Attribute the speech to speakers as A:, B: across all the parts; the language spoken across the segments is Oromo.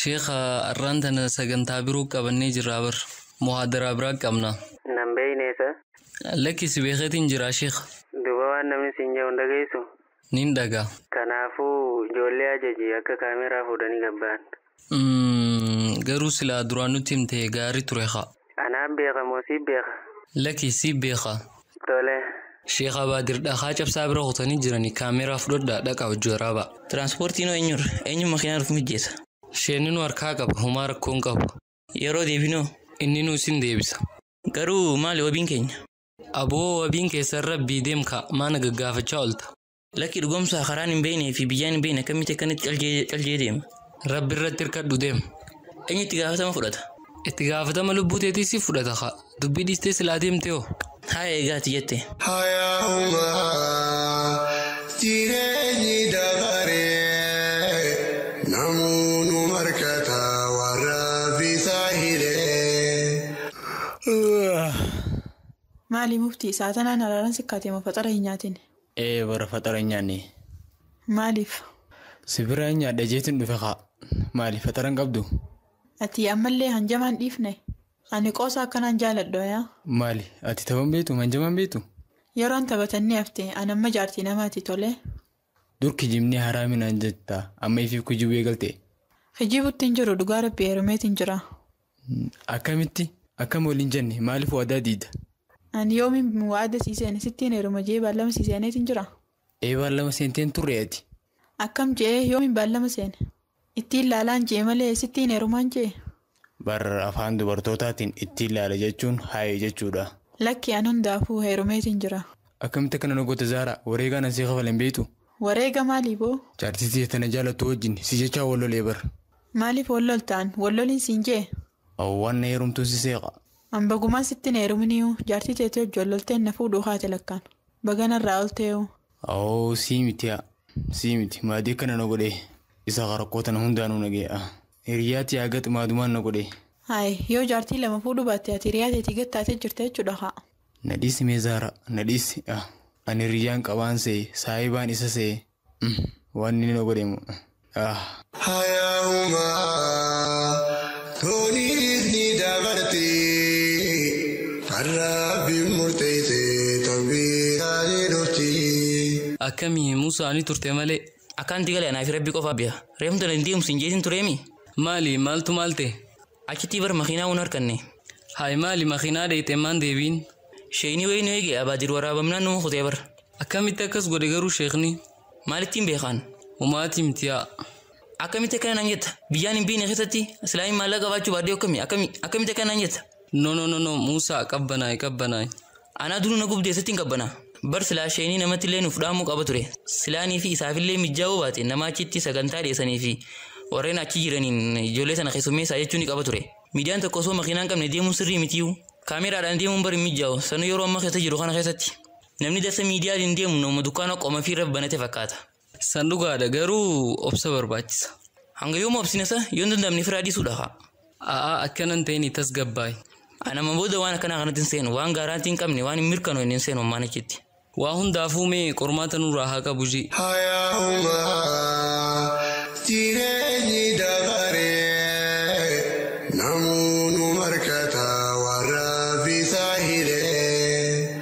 A: Sheekha
B: arraan tana sagantaa biroo qabannee jirraa bar. Muhaadaraa biraa qabna. Nan beekne sa.
A: Lakki si
B: beekeetiin jiraa sheekha. Duuba waan namni
A: siin jedhu hin dhageessu? Nin dhaga.
B: Kanaafuu
A: ijoollee ajaji akka kaameeraa fuudhanii gad bahan. Umm
B: garuu silaa duraan nutti himte gaarii ture kaa. Anaa beeka moo
A: sii beeka. Laki sii
B: beeka. Tole.
A: Sheikh Abaadir
B: dhakaa cabsaa bira kutanii jirani camera fudhadhaa dhaqaa hojji waraabaa. Transport noo
C: enyurra? Enyu makinaa nuf mijjesa? Sheenni nu harkaa
B: qaba homaa rakkoo hin qabu. Yeroo deebinoo?
C: Inninu isin
B: deebisa. Garuu maali
C: wabiin keenya? Aboo wabiin
B: keessan rabbii deem kaa maa na gaggaafachaa olta. Lakki dhugomsaa
C: karaan hin beeknee fi biyyaan hin beekne akkamitti akkanatti caljee caljee deema. Rabbi irratti hirkadhu
B: deem. Eenyu itti gaafatama
C: fudhata? Itti gaafatama
B: lubbuu teetii si fudhata kaa. Dubbii dhiistee silaa deemtee hoo? Haa eegaati
C: jette. Hayaa'uma
D: jireenyi dabaree namuu nu markata warra bisaa hilee.
E: Maali muftii isaa tanaan haraaran sikkaatee moo faxara hin nyaatini. Ee bara faxara
F: hin nyaanne. Maaliif?
E: Si
F: biraa hin nyaadha jeetin dhufe kaa. Maali faxara hin qabdu? Ati ammallee
E: hanjamaa hin dhiifne? Ani qoosaa akkanaa hin jaaladhu ayaa. Maali ati tapha
F: hin beektu hanjamaa hin beektu? Yeroon taphatan
E: ni hafte an amma jaartii namaati tolee. Dur
F: kijibnii haraami naan jetta amma ifiif kijibuu eegalte? Kijibutti hin
E: jiru dhugaa rabbii heerumeetin jira. Akkamitti
F: akkam waliin jenne maaliif waadaa diida. Ani yoomin
E: waada sii seene sittiin heeruma je'ee baallama sii seeneetin jira. Ee baallama seenteen
F: turre ati. Akkam je'ee
E: yoomin baallama seene. Ittiin laalaan je'e malee sittiin heerumaan je'e. Bar
F: afaan dubartootaatiin ittiin laala jechuun haye jechuudha. Lakki an hundaafuu
E: heerumeetin jira. Akkamitti akkana na
F: goota Zaaraa wareegaan an sii kafale hin beektu. Wareega maalii
E: boo? Jaartii tiyya tana jaalattu
F: wajjin si jechaa wal lolee bar. Maaliif wal loltaan?
E: Wal loliin siin jee? Aww waan na heerumtuun
F: si seeqa. An bagumaan sitti
E: hin heeruminiyuu jaartii teetii wajji wal lolteen na fuudhuu kaate lakkaan. Baga narraa olteeyuu. Aww sii
F: miti yaa sii miti maadii akkana na godhee isa ka rakkoo tana hundaanuu na ga'e ah. Hiriyyaa tiyyaa gat maadumaan na godhee. Haay yoo
E: jaartii lama fuudhuu baatte ati hiriyaa teetii gat taatee jirta jechuudha kaa. Na dhiisi mee Zara
F: na dhiisi ah Ani hiriyyaan qabaan see saahibaan isa see umm Waan inni na godhe moo uh ah. Hayaa'uma
D: toonis ni dabarti Kan Rabbiin murteeyse tawbiidhaan ni dhufti. Akkami musa
B: ni turte male. Akkaanti gale anaafi
C: rabbi qofa beha. Reefumta na hin deemsin jeetin tureemi. Maali maaltu
B: maal ta'e? Achitii bar
C: makinaa un harkanne. Haay maali
B: makinaa dheyxee maan deebiin. Sheeyni wayii nu
C: eege abaadir waraabamnaan numa kutee bar. Akkamitti akkas godhe
B: garuu sheekni. Maalittiin beekaan.
C: Homaatii miti yaa.
B: Akkamitti akkana
C: naan jetta biyyaan hin beeyne keessatti silaa hin maallaqa qabaachuu baadhee akkami akkami akkamitti akkana naan jetta. No no no no
B: muusaa qabbanaayi qabbanaayi. Anaa duru na
C: gubdee sittin qabbana. Bar silaa sheenii namatillee nuf dhaamuu qaba ture. Silaa anii fi isaafillee mijjaa yoo baate nama achitti sagantaa dhiyeessanii fi warreen achi jiraniin ijoollee sana keessummeessaa jechuu ni qaba ture. Miidiyaan tokko osoo makiinaa hin qabne deemuun sirrii mitiyuu. Kaameraadhaan deemuun bar hin mijjaawu sanuu yeroo amma keessa jiru kana keessatti. Namni darsa miidiyaaliin deemu namuma dukkaana qomafiirra banate fakkaata. San dhugaadha
B: garuu obsa barbaachisa. Hanga yooma obsina
C: sa yoo hin danda'amne firaa dhiisuudha kaa. A'aa akkanan
B: ta'ini tasgabbaayi. Ani amma booda
C: waan akkanaa kanatti hin seenu. Waan gaaraantii hin qabne waan hin mirkanoofne hin seenu ammaan achitti. Waa
B: hundaafuu mee
C: qormaata
B: nurraa haa qabu
D: G.
B: Hayaa'uma jireenyi dabaree namuu
G: nu markata waan rabbi isaa hiree.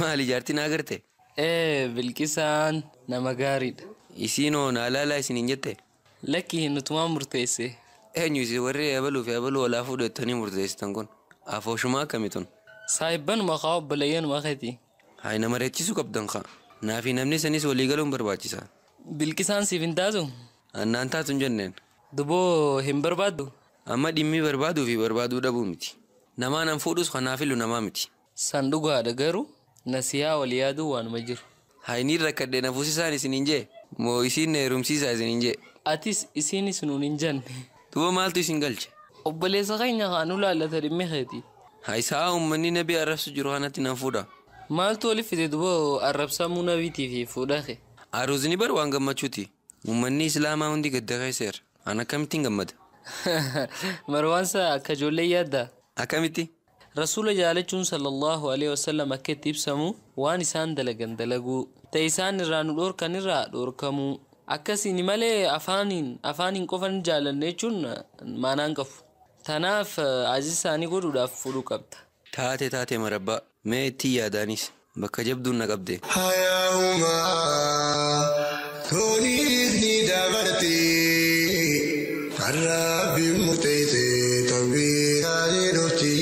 B: Maali jaartii
G: naa garte? Ee Bilqisaan
B: nama gaariidha. Isiin hoo naa
G: laalaa isin hin jette? Lakki nutumaa
B: murteesse. Eenyu isin warri
G: eebaluu fi eebaluu olaa fuudhu jettanii murteessitan kun? Afooshumaa akkami tun? Saahibbanuma
B: kaa obboleeyyanuma keeti. Hay na mari'achiisuu
G: qabdan kaa. Naa fi namni sanis walii galuun barbaachisa. Bilqisaan siif
B: hin taatu? An naan taatu hin
G: jenneen. Duboo hin
B: barbaaddu? Amma dhimmi
G: barbaaduu fi barbaaduu dhabuu miti. Namaan an fuudhus kan naa filu namaa miti. San dhugaadha
B: garu nasihaa wal yaadun waanuma jiru. Hay niin rakkadhe
G: na fusisaan isin hin jee? Moo isiin na herumsiisaa isin hin jee? Atis isiinis
B: nuun hin janne. Duba maaltu isin
G: galche? Obboleessa keenya
B: kaa nu laallata dhimmi keetii. Hay sa'a ummanni
G: nabii arrabsu jiru kanatti nan fuudha. Maaltu wali fide
B: duba arrabsamuu nabiitii fi fuudha kee? Aruuzni bar waan
G: gammachuuti. Ummanni islaamaa hundi gadda keessa jira. An akkamittin gammada?
B: Marwaan saa akka ijoollee yaaddaa? Akkamitti?
G: Rasuula
B: jaalachuun sallallaahu aleyhi wasallam akka itti ibsamu waan isaan dalagan dalaguu, ta isaan irraa nu dhoorkan irraa dhoorkamuu. Akkasiini malee afaaniin afaaniin qofa ni jaalanna jechuun maanaa hin qabu. Tanaaf ajaja isaanii godhuudhaaf fudhuu qabda. Taate taate
G: marabbaa. Mee ittii yaadaanis. Bakka jabduun na qabde. Hayaa'uma
D: tooniis ni dabarti kan Rabbiin murteesse tanbiihaa ni dhufti.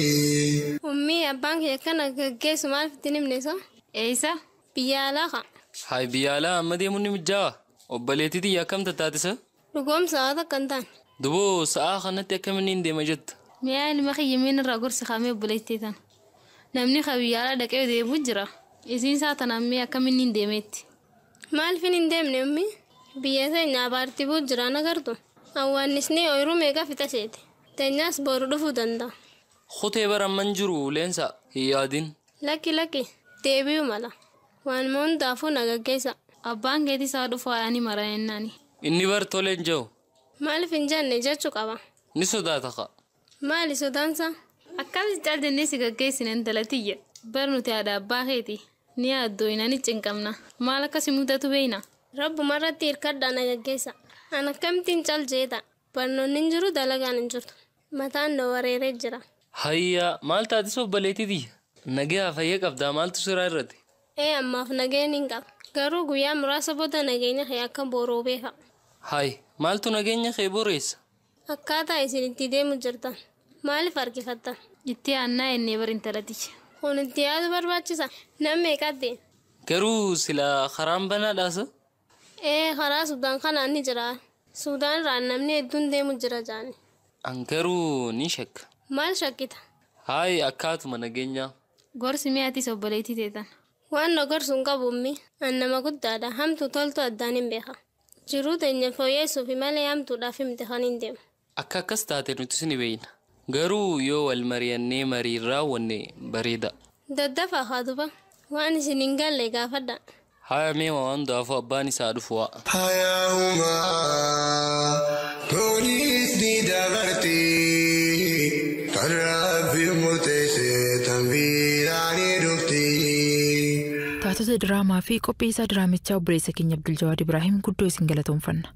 D: Ummi abbaan
H: kiyya akkana gaggeessu maaliif itti hin himne so? Eeysa?
I: Biyya alaa
H: kaa. Haay biyya alaa
B: amma deemun ni mijjaawaa? Obboleetti tiyya akkam tattaati so? Dhugoom sa'aa takka
H: hin taane. Duboo sa'aa
B: kanatti akkamiin niin deema jetta? Mee yaa ilma kiyya mee
I: narraa gorsi kaa mee obboleettii tana. Namni ka biyya alaa dhaqee deebi'u jira. Isiin sa'aa tanaan mee akkamiin niin deema jetti? Maalfin hin
H: deemne ummi? Biyya teenya abaarti bu'u jira hin agartu? Awwaannisni ooyiruu meeqa fixa seete. Teenyaas booru dhufuu danda'a. Kutee bar
B: amma hin jiru Leensaa. Hin yaadin. Lakki lakki
H: deebi'uu mala. Waanuma hundaafuu na gaggeessaa. Abbaan keetis haa
I: dhufu haadha ni mara jennaani. Inni bar tole
B: hin jehu. Maalif hin jenne
H: jechu qaba. Ni sodaata kaa.
B: Maali sodaansaa?
H: Akkamitti cal
I: jennee si gaggeessina intala tiyya. Bar nuti haadha abbaa keeti. Ni yaaddooyna ni cinqamna. Maal akka si mudatu beeyna. Rabbumarratti
H: hirkadhaa na gaggeessaa. An akkamittin cal jeedha. Barnoonni hin jiru dalagaan hin jirtu. Mataan na wareeree jira. Hayya maal
B: taatis obboleetii tiyya? Nagayaa fayya qabdaa maaltu siraa irrate? Ee ammaaf nagaya
H: nin qaba. Garuu guyyaa muraasa booda nageenya kee akka booroobee fa'a. Hay
B: maaltu nageenya kee boreessa? Akkaataa isin
H: itti deemu jirtan maaliif harkifattan? Itti aannaa
I: ennee bar intala tiyya. Kun itti yaadu
H: barbaachisa? Nam meeqatti? Garuu
B: silaa karaan banaadhaa sa? Ee
H: karaa Sudan kanaan ni jira. Sudan irraan namni hedduun deemu jira jaani. An garuu
B: ni shakka. Maal shakkita?
H: Haay akkaatuma
B: nageenyaa. Gorsi mee atis
I: obboleettii tee tana. Waan na gorsu hin
H: qabu ummi. An nama guddaadha. Hamtuu toltuu addaan hin beeka. Jiruu teenya fooyyeessuufi malee hamtuudhaaf miti kaniin deemu. Akka akkas taate
B: nutis ni beeyna. Garuu yoo wal mariyannee mariin raawwanne bareeda. Daddafaa haa
H: duba. Waan isin hin galle gaafadhaa. Haya mee waa
B: hundaafuu abbaan isaa haa dhufu waa. Hayaa humaa
D: tuniis ni dabarti kan Rabbiin murteesse tan biraa ni dhufti.
I: Taatota diraamaa fi qopheessaa diraamichaa obboleessa keenya Abduljawaad Ibraahim guddoo isin galatoomfanna.